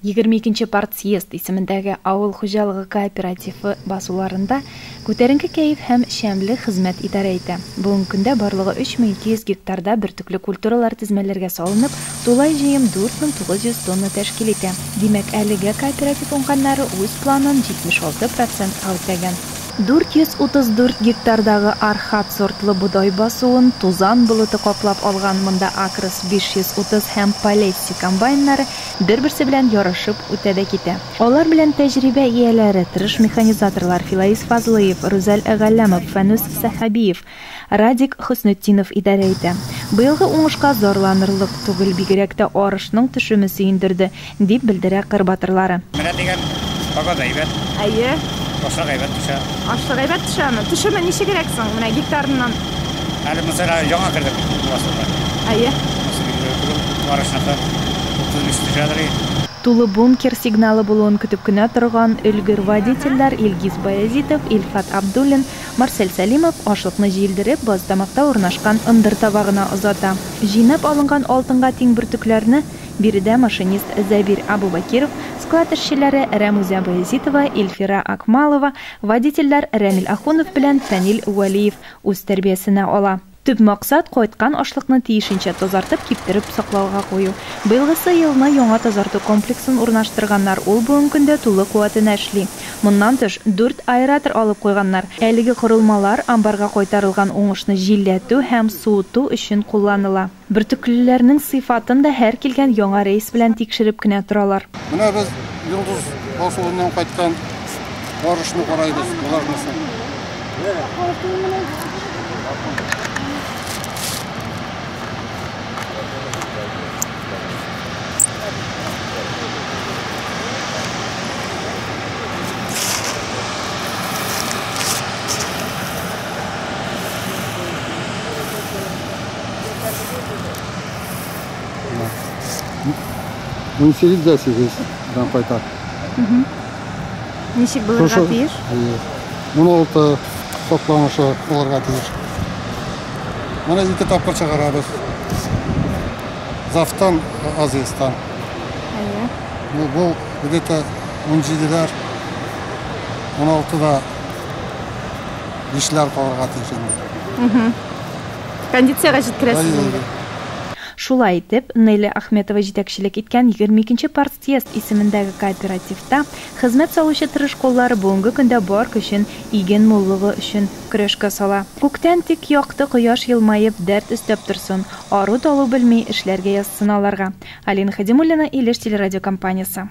Егерме икенче партсъезд исемендәге авыл хуҗалыгы кооперативы басуларында күтәренке кәеф һәм шәмле хезмәт идарә итә. Бүгенге көндә барлыгы 3200 гектарда бөртекле культуралар тезмәләргә салынып, тулай җыем 4900 тонна тәшкил итә. Димәк, әлегә кооператив уңганнары үз планын 76 процентка үтәгән. 434 гектардагы Архат сортлы бодай басуын тузан болыты каплап алган, монда Акрос 530 һәм Полесси комбайннары бер-берсе белән ярышып үтә дә китә. Алар белән тәҗрибә ияләре, тырыш механизаторлар Филаис Фазлыев, Рүзәл Галләмов, Фәнүс Сәхәбиев, Радик Хөснетдинов идарә итә. Быелгы уңышка зарланырлык түгел, бигрәк тә арышның төшеме сөендерде, дип белдерә кыр батырлары. Менә дигән, кабат әйбәт. Әйе. Ашык әйбәт төшә. Ашык әйбәт төшәме? Төшеме ничегрәк соң, менә гектарыннан? Әле музейга яңа кердек классында. Әйе. Барышында 35 төшәдер. Тулы бункер сигналы булуын көтеп кенә торган өлгер водительләр Илгиз Баязитов, Илфат Абдуллин, Марсель Сәлимов ашлыкны җилдереп, базтамакта урнашкан ындыр табагына озата. Җыйнап алынган алтынга тиң бөртекләрне биредә машинист Зәбир Абубакиров, склад эшчеләре Рәмүзә Баязитова, Илфира Акмалова, Водительләр Рәмил Ахунов белән Фәнил Вәлиев үз тәрбиясенә ала. Төп максат, кайткан ашлыкны тиешенчә тазартып, киптереп саклауга кую. Быелгысы елны яңа тазарту комплексын урнаштырганнар, ул бүген көндә тулы куәтенә эшли. Моннан тыш, дүрт аэратор алып куйганнар. Әлеге корылмалар амбарга кайтарылган уңышны җилләтү һәм суыту өчен кулланыла. Бөртеклеләрнең сыйфатын да һәр килгән яңа рейс белән тикшереп кенә торалар. Менә без Йолдыз басуыннан кайткан барышны карайбыз, влажносын. Мин сирит дә сирит дан кайта. Ничек булырга тиеш? Моны алты топланышы булырга тиеш. Моны ике тапкыр чыгарабыз. Завтан, Азиястан. Әйе. Ну, бу где-то 17-ләр, 16-да 5-ләр калырга тиеш инде. Кондициягә җиткерәсез инде. Шулай итеп, Неля Ахметова җитәкчелек иткән егерме икенче партсъезд исемендәге кооперативта хезмәт салучы тырыш куллары бүгенге көндә бар көчен иген муллыгы өчен көрәшкә сала. Күктән тик якты кояш елмаеп, дәрт өстәп торсын, ару-талу белми, эшләргә язсын аларга. Алина Хәдимуллина, Илеш телерадиокомпаниясе.